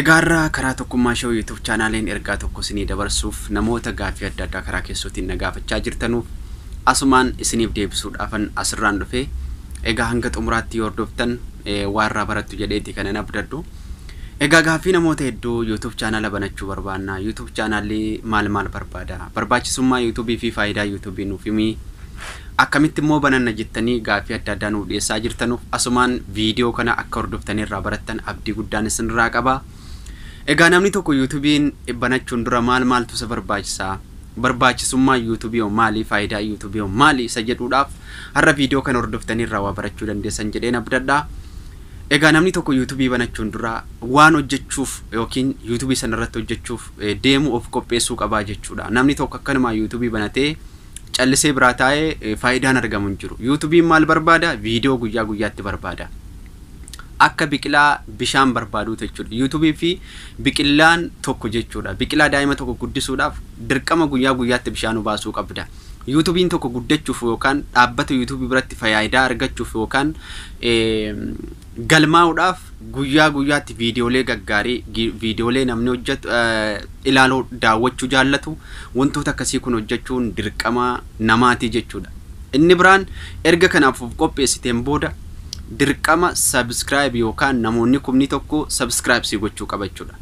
Egaa har'a karaa Tokkummaa Show YouTube Chaanaaliin ergaa tokko isinii dabarsuuf namoota gaaffii adda addaa karaa keessootiin na gaafachaa jirtanuuf asumaan isiniif deebisuudhaafan asirraan dhufe. Egaa hanga xumuraatti yoo hordoftan waa irraa barattu jedheeti kanan abdadhu. Egaa gaaffii namoota hedduu YouTube chaanaala banachuu barbaanna. YouTube chaanaalli maal maal barbaada? Barbaachisummaa YouTube fi faayidaa YouTube nuuf himi. Akkamitti immoo bananna jettanii gaaffii adda addaa nuuf dhiyeessaa jirtanuuf asumaan viidiyoo kana akka hordoftanii irraa barattan abdii guddaan isinirraa qaba. Egaa namni tokko yuutubiin banachuun dura maal maaltu isa barbaachisa? Barbaachisummaan yuutubii hoo maali? Faayidaan yuutubii hoo maali? Isa jedhuudhaaf har'a viidiyoo kana hordoftanii irraa waa barachuu dandeessan jedheen abdadha. Egaa namni tokko yuutubii banachuun dura waan hojjechuuf yookiin yuutubii sanarratti hojjechuuf deemu of qopheessuu qabaa jechuudha. Namni tokko akkanumaa yuutubii banatee callisee biraa taa'ee faayidaan argamu hin jiru. Yuutubiin maal barbaada? Viidiyoo guyyaa guyyaatti barbaada. Akka biqilaa bishaan barbaaduu jechuudha. Yuutubii fi biqilaan tokko jechuudha. Biqilaa daa'ima tokko guddisuudhaaf dirqama guyyaa guyyaatti bishaan obaasuu qabda. Yuutubiin tokko guddachuuf yookaan dhaabbata yuutubii biratti fayaayidaa argachuuf yookaan galmaa'uudhaaf guyyaa guyyaatti viidiyoolee gaggaarii, viidiyoolee namni hojjetu ilaaluu, daawwachuu jaallatu, wantoota akkasii kun hojjechuun dirqama namaatii jechuudha. Inni biraan erga kanaaf of qopheessiteen booda dirqama subscribe yookaan namoonni kumni tokko subscribe sii gochuu qaba jechuudha.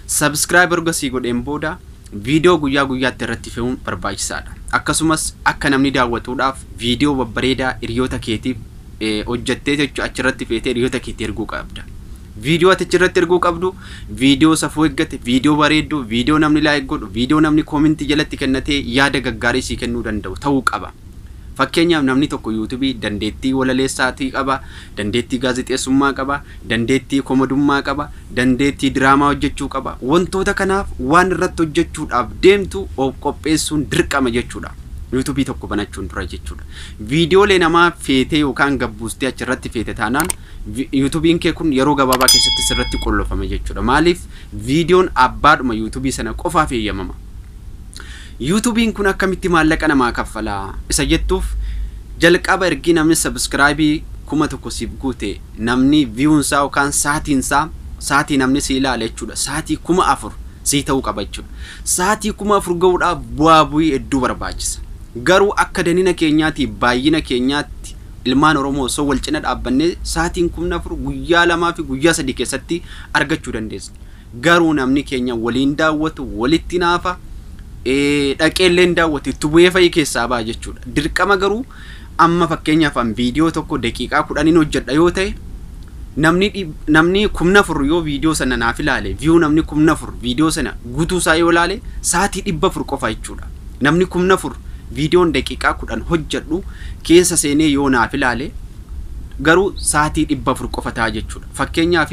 Subscribe erga sii godheen booda viidiyoo guyyaa guyyaatti irratti fe'uun barbaachisaadha. Akkasumas akka namni daawwatuudhaaf viidiyoo babbareedaa hiriyoota keetiif hojjattee jechuun achirratti feetee hiriyoota keetti erguu qabda. Viidiyoo ati achirratti erguu qabdu viidiyoo safuu eeggate, viidiyoo bareedduu, viidiyoo namni laayik godhu, viidiyoo namni koominti jalatti kennatee yaada gaggaarii sii kennuu danda'u ta'uu qaba. Fakkeenyaaf namni tokko yuutubii dandeettii walaleessaatii qaba, dandeettii gaazexeessummaa qaba, dandeettii komadummaa qaba, dandeettii diraamaa hojjechuu qaba. Wantoota kanaaf waan irratti hojjechuudhaaf deemtu of qopheessuun dirqama jechuudha. Yuutubii tokko banachuun dura jechuudha. Viidiyoolee namaa feetee yookaan gad buustee achirratti feete taanaan yuutubiin kee kun yeroo gabaabaa keessatti sirratti qollofama jechuudha. Maaliif viidiyoon abbaadhuma yuutubii sana qofaaf eeyyamama. Yuutubiin kun akkamitti maallaqa namaa kaffala? Isa jettuuf jalqaba ergii namni sabiskiraayibii kuma tokko siif guute namni viyuunsaa yookaan saatiinsaa saatii namni si ilaale jechuudha. Saatii kuma afur sii ta'uu qaba jechuudha. Saatii kuma afur ga'uudhaaf bu'aa bu'ii hedduu barbaachisa. Garuu akka danina keenyaati baayyina keenyaatti ilmaan Oromoo osoo wal cina dhaabbannee saatiin kumni 4 guyyaa 2 fi guyyaa 3 keessatti argachuu dandeesna. Garuu namni keenya waliin daawwatu walitti naafa, dhaqee illee hin daawwatu itti bu'ee fa'i keessaa ba'a jechuudha. Dirqama garuu amma fakkeenyaaf an viidiyoo tokko daqiiqaa 10n hojjedha yoo ta'e namni namni kumni 4 yoo viidiyoo sana naaf ilaale view namni kumni 4 viidiyoo sana guutuu isaa yoo ilaale saatii 400 qofa jechuudha. Namni kumni afur viidiyoon daqiiqaa kudhan hojjedhu keessa seenee yoo naaf ilaale garuu saatii dhibba afur qofa ta'a jechuudha. Fakkeenyaaf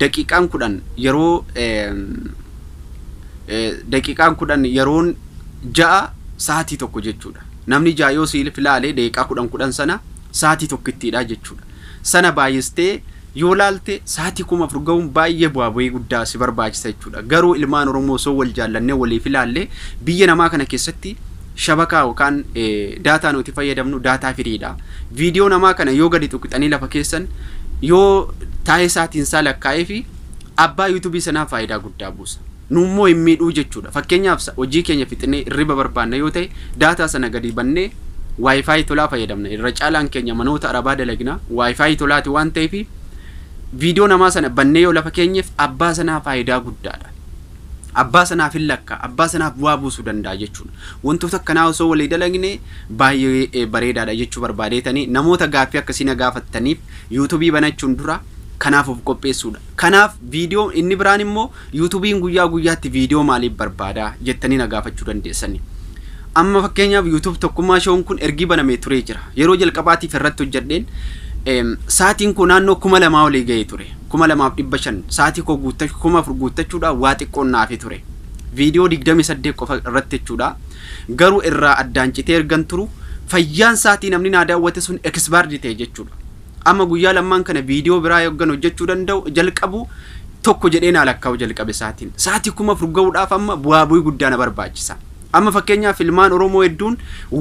daqiiqaan kudhan yeroo daqiiqaan kudhan yeroon ja'a saatii tokko jechuudha. Namni ja'a yoo siif ilaale daqiiqaa kudhan kudhan sana saatii tokkittiidha jechuudha. Sana baay'istee Yoo laalte sa'aatii 4,000 ga'uun baay'ee bu'aa ba'ii guddaa si barbaachisa jechuudha. Garuu ilmaan Oromoo osoo wal jaallannee waliif ilaallee biyya namaa kana keessatti shabakaa yookaan daataa nuti fayyadamnu daataa firiidha. Viidiyoo namaa kana yoo gadi tuqxanii lafa keessan yoo taa'ee sa'aatiin isaa lakkaa'ee fi abbaa yuutuubii sanaa faayidaa guddaa buusa. nu immoo hin miidhuu jechuu dha. Fakkeenyaaf sa, hojii keenya fixnee irriba barbaanna yoo ta'e, daataa sana gadi bannee Wi-Fi tolaa fayyadamna. Irra caalaan keenya manoota arabaa dalagna, Wi-Fi tolaa ti waan ta'eef, viidiyoo namaa sana bannee yoo lafa keenyeef abbaa sanaa faayidaa guddaa dha. Abbaa sanaaf hin lakkaa'a, abbaa sanaaf bu'aa buusuu danda'a jechuu dha. Wantoota akkanaa osoo walii dalagne baay'ee bareedaa dha jechuu barbaadeetani. Namoota gaaffii akkasii na gaafattaniif, YouTube banachuun dura kanaaf of qopheessuu dha. Kanaaf viidiyoon inni biraan immoo Yuutubiin guyyaa guyyaatti viidiyoo maaliif barbaada? jettanii na gaafachuu dandeessani. Amma fakkeenyaaf YouTube Tokkummaa Show'n kun ergii banamee turee jira. Yeroo jalqabaatiif irratti hojjedheen sa'aatiin koo naannoo kuma lamaa olii ga'ee ture. kuma lamaaf dhibba shan sa'aatii koo guuttachuu kuma afur guuttachuudhaaf waa xiqqoon naafi ture. Viidiyoo digdamii saddeet qofa irratti jechuudha. Garuu irraa addaan citee ergan turu fayyaan sa'aatii namni naa daawwate sun ekisbaardi ta'e jechuudha. Amma guyyaa lammaan kana viidiyoo biraa yoggan hojjechuu danda'u jalqabu tokko jedhee naa lakkaa'u jalqabe sa'aatiin. Sa'aatii kuma afur ga'uudhaaf amma bu'aa bu'ii guddaa na barbaachisa. Amma fakkeenyaaf ilmaan Oromoo hedduun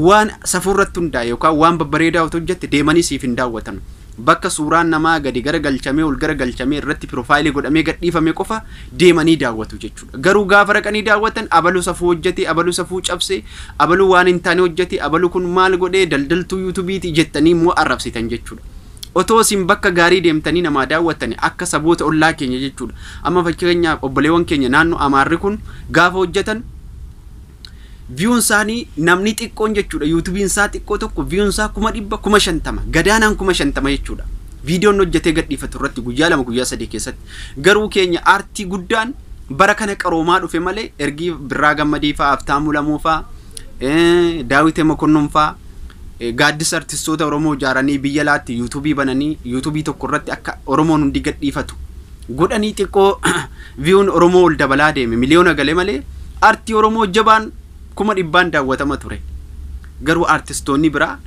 waan safuu irratti hundaa'e yookaan waan babbareedaa otoo hojjette deemanii siif hin daawwatan. Bakka suuraan namaa gadi gara galchamee ol gara galchamee irratti piroofaayilii godhamee gadhiifame qofa deemanii daawwatu jechuudha. Garuu gaafa dhaqanii daawwatan abalu safuu hojjete, abalu safuu cabse, abalu waan hin taane hojjete, abalu kun maal godhe, daldaltuu yuutubiiti jettanii immoo arrabsitan jechuudha. Otoo isin bakka gaarii deemtanii namaa daawwattani akka saboota ollaa keenya jechuudha. Amma fakkeenyaaf obboleewwan keenya naannoo Amaarri kun gaafa hojjetan Viewn isaani namni xiqqoon jechuudha yuutubiin isaa xiqqoo tokko viewn isaa kuma dhibba kuma shantama gadaanaan kuma shantama jechuudha. Viidiyoon hojjetee gadhiifatu irratti guyyaa lama guyyaa sadii keessatti garuu keenya aartii guddaan bara kana qaroomaa dhufe malee ergii birraa gammadii faa aftaamuu lamuu faa daawite mokonnon faa gaaddis artistoota oromoo ijaaranii biyya laatti yuutubii bananii yuutubii tokko irratti akka oromoon hundi gadhiifatu godhanii xiqqoo viyuun Oromoo ol dabalaa deeme miliyoona gale malee artii Oromoo jabaan kuma dhibbaan daawwatama ture. Garuu artistoonni biraa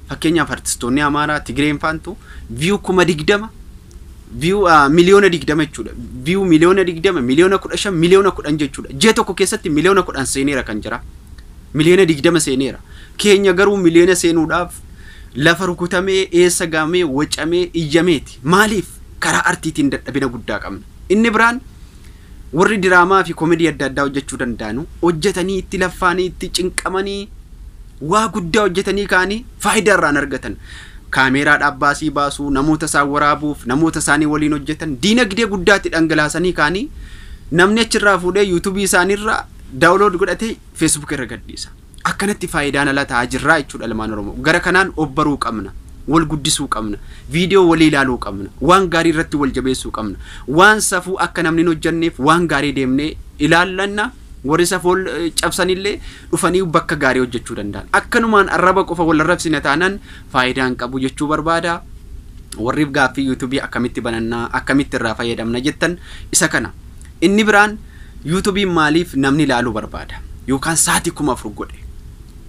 fakkeenyaaf artistoonni Amaaraa, Tigreen faantu viyuu kuma digdama viyuu miliyoona digdama jechuudha. Viyuu miliyoona digdama, miliyoona kudha shan, miliyoona kudhan jechuudha. Ji'a tokko keessatti miliyoona kudhan seeneera kan jira. Miliyoona digdama seeneera. Keenya garuu miliyoona seenuudhaaf lafa rukutamee, eessa gaamee, wacamee, iyyameeti. Maaliif karaa artiitiin dadhabina guddaa qabna? Inni biraan warri diraamaafi komedii adda addaa hojjechuu danda'anu hojjetanii itti laffaanii itti cinqamanii waa guddaa hojjetanii ka'anii faayidaa irraa hin argatan. Kaameeraadhaaf baasii baasu, namoota isaan waraabuuf, namoota isaanii waliin hojjetan diinagdee guddaa itti dhangalaasanii ka'anii namni achirraa fuudhee yuutubii isaaniirraa daawulood godhatee feesbuukii irra gadhiisa. Akkanatti faayidaan ala ta'aa jirraa jechuudha ilmaan Oromoo. Gara kanaan of baruu qabna. Wal guddisuu qabna. Viidiyoo walii ilaaluu qabna. Waan gaarii irratti wal jabeessuu qabna. Waan safuu akka namni hin hojjanneef waan gaarii deemnee ilaallanna. Warri safuu cabsanillee dhufanii bakka gaarii hojjechuu danda'an. Akkanumaan arraba qofa wal arrabsina taanaan faayidaa hin qabu jechuu barbaada. Warriif gaaffii yuutuubii akkamitti banannaa, akkamitti irraa fayyadamna jettan isa kana. Inni biraan YouTube maaliif namni ilaaluu barbaada? Yookaan sa'aatii kuma afur godhe.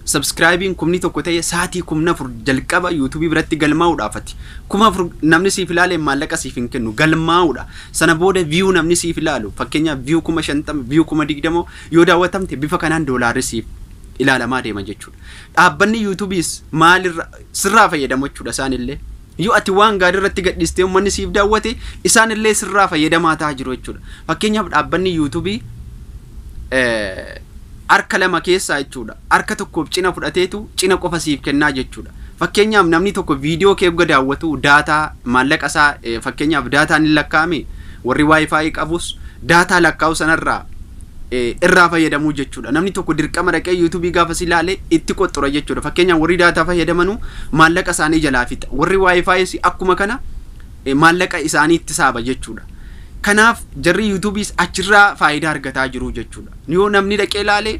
Subscribing kumni tokko ta'e sa'aatii kumni afur jalqaba YouTube biratti galmaa'uudhaaf ati. Kuma afur namni siif ilaaleen maallaqa siif hin kennu galmaa'uudha. Sana booda view namni siif ilaalu fakkeenyaaf view kuma shantama view kuma digdama yoo daawwatamte bifa kanaan doolaarri siif ilaalamaa deema jechuudha. Dhaabbanni YouTube's maalirra sirraa fayyadamu jechuudha isaanillee. Yoo ati waan gaarii irratti gadhiiste ummanni siif daawwate isaan illee sirraa fayyadamaa ta'a jiru jechuudha. Fakkeenyaaf dhaabbanni yuutuubii harka lama keessaa jechuudha. Harka tokkoof cina fudhateetu cina qofa siif kennaa jechuudha. Fakkeenyaaf namni tokko viidiyoo kee hogga daawwatu daataa maallaqa isaa fakkeenyaaf daataan hin lakkaa'ame warri waayifaayi qabus daataa lakkaa'u sanarraa irraa fayyadamuu jechuudha. Namni tokko dirqama dhaqee yuutuubii gaafa si ilaale itti qoxxura jechuudha. Fakkeenyaaf warri daataa fayyadamanu maallaqa isaanii jalaa fixa. Warri waayifaayis akkuma kana maallaqa isaanii itti saaba jechuudha. Kanaaf jarri yuutuubiis achirraa faayidaa argataa jiru jechuudha. Yoo namni dhaqee ilaale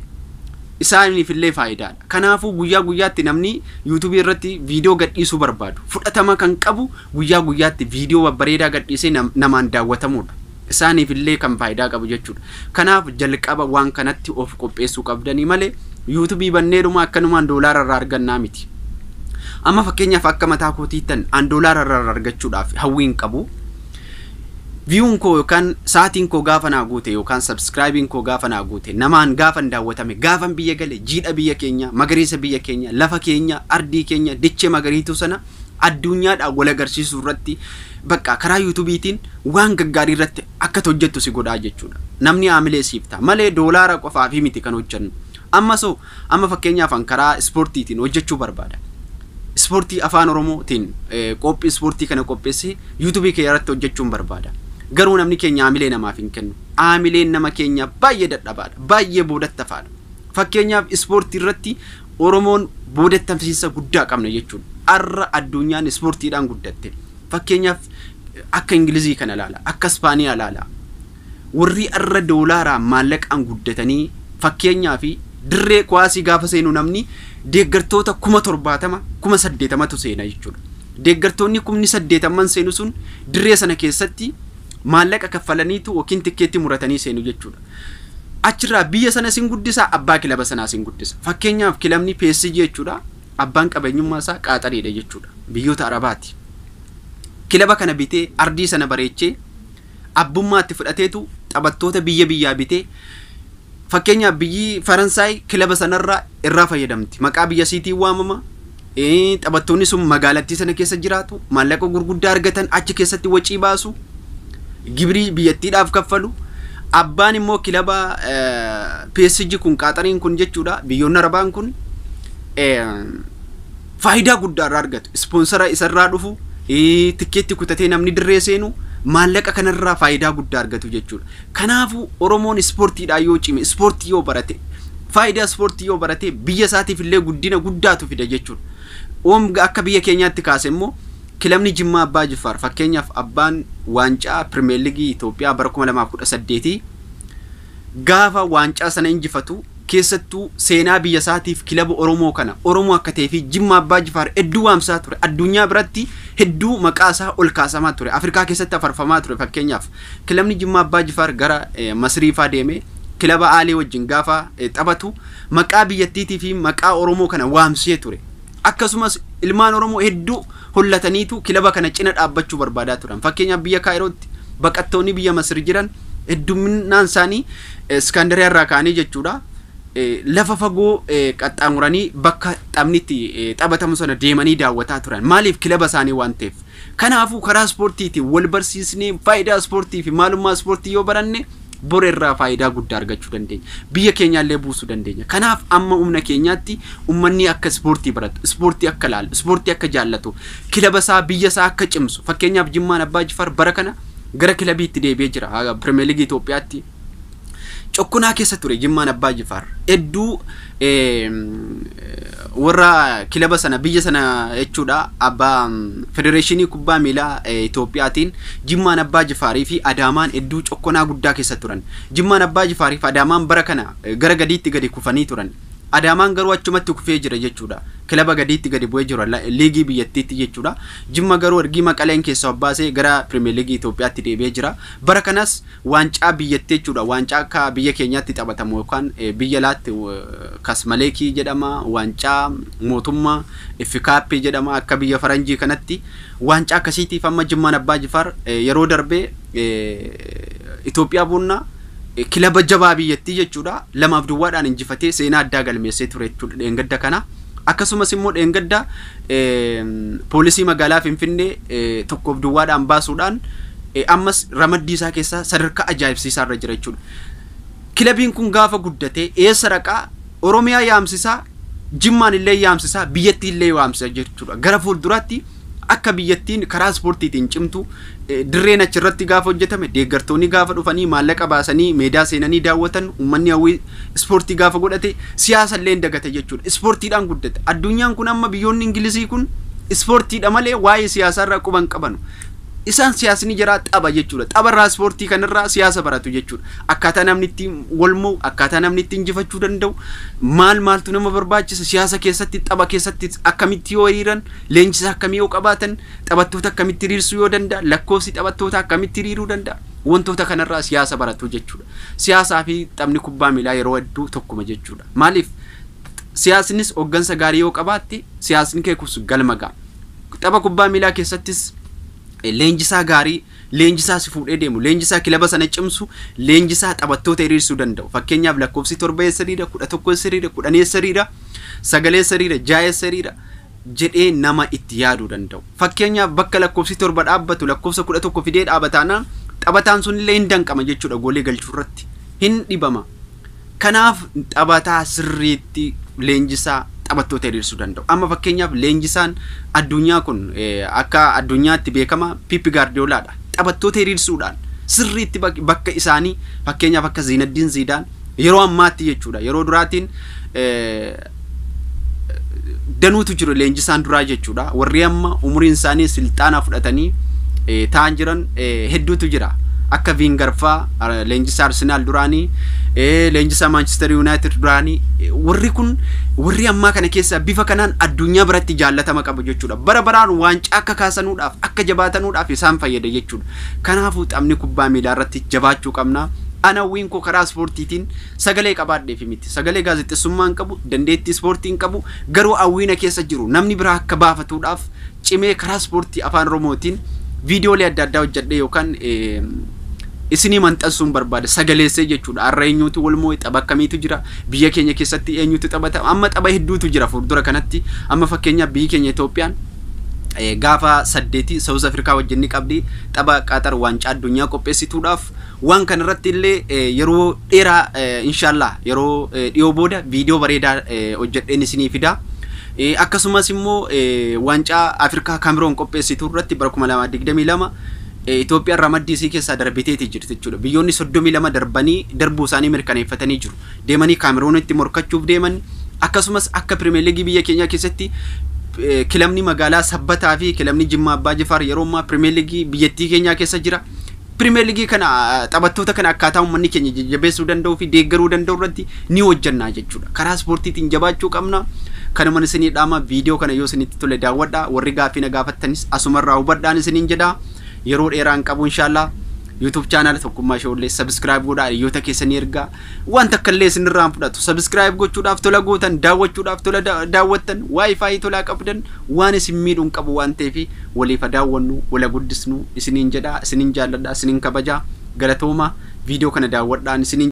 isaaniif illee faayidaadha. Kanaafuu guyyaa guyyaatti namni yuutuubii irratti viidiyoo gadhiisuu barbaadu fudhatama kan qabu guyyaa guyyaatti viidiyoo babbareedaa gadhiisee namaan daawwatamuudha. isaaniif illee kan faayidaa qabu jechuudha. Kanaaf jalqaba waan kanatti of qopheessuu qabdanii malee yuutubii banneedhuma akkanumaan doolaara irraa argannaa miti. Amma fakkeenyaaf akka mataa kootiittan an doolaara irraa argachuudhaaf hawwiin qabu. Viyuun koo yookaan sa'aatiin koo gaafa naa guute yookaan sabskraayibiin koo gaafa naa guute namaan gaafan daawwatame gaafan biyya gale jiidha biyya keenya magariisa biyya keenya lafa keenya ardii keenya dichee magariituu sana adduunyaadhaan wal agarsiisuu irratti bakka karaa yuutubiitiin waan gaggaarii irratti akka hojjettu si godhaa jechuudha. Namni haamilee siif ta'a malee doolaara qofaafii miti kan hojjennu. Amma so amma fakkeenyaaf an karaa ispoortiitiin hojjechuu barbaada. Ispoortii afaan oromootiin qophii ispoortii kana qopheessee yuutubii kee irratti hojjechuun barbaada. Garuu namni keenya haamilee namaaf hin kennu. Haamileen nama keenya baay'ee dadhabaadha. Baay'ee boodattafaadha. Fakkeenyaaf ispoortii irratti Oromoon boodatti hamsiinsa guddaa qabna jechuun arra adduunyaan ispoortiidhaan guddatte fakkeenyaaf akka Ingilizii kana ilaala, akka Ispaaniyaa ilaala. Warri arra doolaaraan maallaqaan guddatanii fakkeenyaa fi dirree kuwaasii gaafa seenu namni deeggartoota kuma torbaatama kuma saddeetamatu seena jechuudha. Deeggartoonni kumni saddeetamman seenu sun dirree sana keessatti maallaqa kaffalaniitu yookiin tikkeetti muratanii seenu jechuudha. Achirraa biyya sana sin guddisa, abbaa kilaba sanaa sin guddisa. Fakkeenyaaf kilabni PSG jechuudha abbaan qabeenyummaa isaa Qaaxariidha jechuudha. Biyyoota Arabaati. Kilaba kana bitee ardii sana bareechee abbummaa itti fudhateetu taphattoota biyya biyyaa bitee fakkeenyaaf biyyi Faransaay kilaba sanarraa irraa fayyadamti. Maqaa biyya siitiin waamama. Taphattoonni sun magaalattii sana keessa jiraatu, maallaqa gurguddaa argatan achi keessatti wacii baasu, gibrii biyyattiidhaaf kaffalu. Abbaan immoo kilaba PSG kun qaaxariin kun jechuudha biyyoonni arabaan kun faayidaa guddaa irraa argatu. Ispoonsara isarraa dhufu tikkeetti kutatee namni dirree seenu maallaqa kanarraa faayidaa guddaa argatu jechuudha. Kanaafuu Oromoon ispoortiidhaan yoo cime, ispoortii yoo barate, faayidaa ispoortii yoo barate biyya isaatiif illee guddina guddaatu fida jechuudha. Omg akka biyya keenyaatti kaase immoo kilabni Jimmaa Abbaa Jiffaar fakkeenyaaf abbaan waancaa Pirmeerligii Itoophiyaa bara 2018 gaafa waancaa sana injifatu keessattuu seenaa biyya isaatiif kilaba Oromoo kana Oromoo akka ta'ee fi Jimmaa Abbaa Jifaar hedduu waamsaa ture. Addunyaa biratti hedduu maqaa isaa ol kaasamaa ture. Afrikaa keessatti afarfamaa ture fakkeenyaaf. Kilabni Jimmaa Abbaa Jifaar gara Masiriifaa deemee kilaba Aalee wajjin gaafa taphatu maqaa biyyattiitii fi maqaa Oromoo kana waamsee ture. Akkasumas ilmaan Oromoo hedduu hollataniitu kilaba kana cina dhaabbachuu barbaadaa turan. Fakkeenyaaf biyya Kaayirootti baqattoonni biyya Masir jiran hedduminaan isaanii Iskaandariyaa irraa ka'anii jechuudha. Lafa fagoo qaxxaamuranii bakka taphni itti taphatamu sana deemanii daawwataa turan. Maaliif kilaba isaanii waan ta'eef. Kanaafuu karaa ispoortiitiin wal barsiisnee faayidaa ispoortii fi maalummaa ispoortii yoo baranne bor irraa faayidaa guddaa argachuu dandeenya. Biyya keenyaallee buusuu dandeenya. Kanaaf amma humna keenyaatti ummanni akka ispoortii baratu, ispoortii akka laalu, ispoortii akka jaallatu, kilaba isaa, biyya isaa akka cimsu fakkeenyaaf Jimmaan Abbaa Jifaar bara kana gara kilabiitti deebi'ee jira. Pirimeer Liigii Itoophiyaatti. cokkunaa keessa ture Jimmaan Abbaa Jifaar. Hedduu warra kilaba sana biyya sana jechuudha abbaa federeeshinii kubbaa miilaa Itoophiyaatiin Jimmaan Abbaa Jifaarii fi Adaamaan hedduu cokkonaa guddaa keessa turan. Jimmaan Abbaa Jifaarii fi Adaamaan bara kana gara gadiitti gadi kufanii turan. Adaamaan garuu achumatti kufee jira jechuudha. Kilaba gadiitti gadi bu'ee jira liigii biyyattiitti jechuudha. Jimma garuu ergii maqaleen keessaa obbaasee gara pirimeer liigii Itoophiyaatti deebi'ee jira. Bara kanas Waancaa biyyattii jechuudha. Waancaa akka biyya keenyaatti taphatamu yookaan biyya alaatti kasmaleekii jedhama, waancaa mootummaa, iffikaappii jedhama akka biyya faranjii kanatti. Waancaa akkasiitiif amma Jimmaan Abbaa Jifaar yeroo darbee Itoophiyaa Buunnaa kilaba jabaa biyyattii jechuudha lamaaf duwwaadhaan injifatee seenaa addaa galmeessee ture jechuudha dheengadda kana. Akkasumas immoo dheengadda poolisii magaalaa Finfinnee tokkoof duwwaadhaan baasuudhaan ammas ramaddii isaa keessaa sadarkaa ajaa'ibsiisaa irra jira jechuudha. Kilabiin kun gaafa guddatee eessa dhaqaa Oromiyaa yaamsisaa Jimmaan illee yaamsisaa biyyattii illee waamsisa jechuudha. Gara fuulduraatti Akka biyyattiin karaa ispoortiitiin cimtu dirreen achirratti gaafa hojjetame deeggartoonni gaafa dhufanii maallaqa baasanii meedaa seenanii daawwatan uummanni hawwii ispoortii gaafa godhate siyaasa illee hin dagata jechuudha. Ispoortiidhaan guddate. Addunyaan kun amma biyyoonni Ingilizii kun ispoortiidha malee waa'ee siyaasaarraa quba hin qabanu. Isaan siyaasni jaraa tapha jechuudha. Tapharraa ispoortii kanarraa siyaasa baratu jechuudha. Akkaataa namni ittiin wal mo'u, akkaataa namni ittiin injifachuu danda'u, maal maaltu nama barbaachisa, siyaasa keessatti, tapha keessatti akkamitti yoo hiriiran, Leenjisaa akkamii yoo qabaatan, taphattoota akkamitti hiriirsuu yoo danda'an, lakkoofsi taphattootaa akkamitti hiriiruu danda'a? Wantoota kanarraa siyaasa baratu jechuudha. Siyaasaa fi taphni kubbaa miilaa yeroo hedduu tokkuma jechuudha. Maaliif? Siyaasnis hooggansa gaarii yoo qabaatte, siyaasni kee kus galma ga'a. Tapha kubbaa miilaa keessattis leenjisaa gaarii, leenjisaa si fuudhee deemu, leenjisaa kilaba sana cimsu, leenjisaa taphattoota hiriirsuu danda'u. Fakkeenyaaf lakkoofsi torba eessa hiriira, kudha tokko eessa hiriira, kudhan eessa hiriira, sagal eessa hiriira, ja'a eessa hiriira, jedhee nama itti yaaduu danda'u. Fakkeenyaaf bakka lakkoofsi 7 dhaabbatu lakkoofsa 11 fidee dhaaba taanaan taphataan sunillee hin danqama jechuudha goolee galchuu irratti. Hin dhibama. Kanaaf taphataa sirriitti leenjisaa taphattoota hiriirsuu danda'u. Amma fakkeenyaaf leenjisaan addunyaa kun akka addunyaatti beekama Piippi Gaardiyoolaadha. Taphattoota hiriirsuudhaan sirriitti bakka isaanii fakkeenyaaf akka Ziinaddiin Ziidaan Yeroo ammaatti jechuudha. Yeroo duraatiin danuutu jiru leenjisaan duraa jechuudha. Warri amma umuriin isaanii silxaanaa fudhatanii ta'an jiran hedduutu jira. Akka Viingarfaa leenjisaa Arsenaal duraanii leenjisaa Maanchister Yuunaayitid duraanii warri kun warri ammaa kana keessaa bifa kanaan addunyaa biratti jaallatama qabu jechuudha. Bara baraan waancaa akka kaasanuudhaaf akka jabaatanuudhaaf isaan fayyada jechuudha. Kanaafuu taphni kubbaa miilaa irratti jabaachuu qabna. An hawwiin koo karaa ispoortiitiin sagalee qabaadheefi miti. Sagalee gaazexessummaa hin qabu, dandeettii ispoortii hin qabu, garuu hawwii na keessa jiru namni biraa akka baafatuudhaaf cimee karaa ispoortii Afaan Oromootiin viidiyoolee adda addaa hojjedhee yookaan isinii maxxansuun barbaada. Sagaleessee jechuudha. Har'a eenyuutu wal moo'e? Tapha akkamiitu jira? Biyya keenya keessatti eenyutu taphata? Amma tapha hedduutu jira fuuldura kanatti. Amma fakkeenyaaf biyyi keenya Itoophiyaan gaafa saddeeti Saawuz Afrikaa wajjin ni qabdi. Tapha Qaaxar waancaa addunyaa qopheessituudhaaf. Waan kana irratti illee yeroo dheeraa inshaallaa yeroo dhiyoo booda viidiyoo bareedaa hojjedheen isinii fida. Akkasumas immoo waancaa Afrikaa Kaamiroon qopheessitu irratti bara 2022 Itoophiyaan ramaddii isii keessaa darbiteeti jirti jechuudha. Biyyoonni 32 darbanii darbuu isaanii mirkaneeffatanii jiru. deemanii Kaameroonitti morkachuuf deeman akkasumas akka Pirimeer Liigii biyya keenyaa keessatti kilabni magaalaa Sabbataa fi kilabni Jimmaa Abbaa Jifaar yeroo ammaa Pirimeer Liigii biyyattii keenyaa keessa jira. Pirimeer Liigii kana taphattoota kana akkaataa uummanni keenya jajjabeessuu danda'uu fi deeggaruu danda'u irratti ni hojjannaa jechuudha. Karaa ispoortiitiin jabaachuu qabna. Kanuman isinii dhaama viidiyoo kana yoo isinitti tole daawwadha. Warri gaaffii na gaafattanis asumarraa hubadhaan isiniin jedha. Yeroo dheeraan qabu inshaallah. YouTube channel Tokkummaa Shoollee subscribe godhaa hiriyoota keessanii ergaa waan takka illee isinirraa hin fudhatu subscribe gochuudhaaf tola gootan daawwachuudhaaf tola da- daawwattan wifi tolaa qabdan waan isin miidhu hin qabu waan ta'eef waliif haa daawwannu wala guddisnu isiniin jedhaa isiniin jaalladhaa isiniin kabajaa galatoomaa viidiyoo kana daawwadhaan isiniin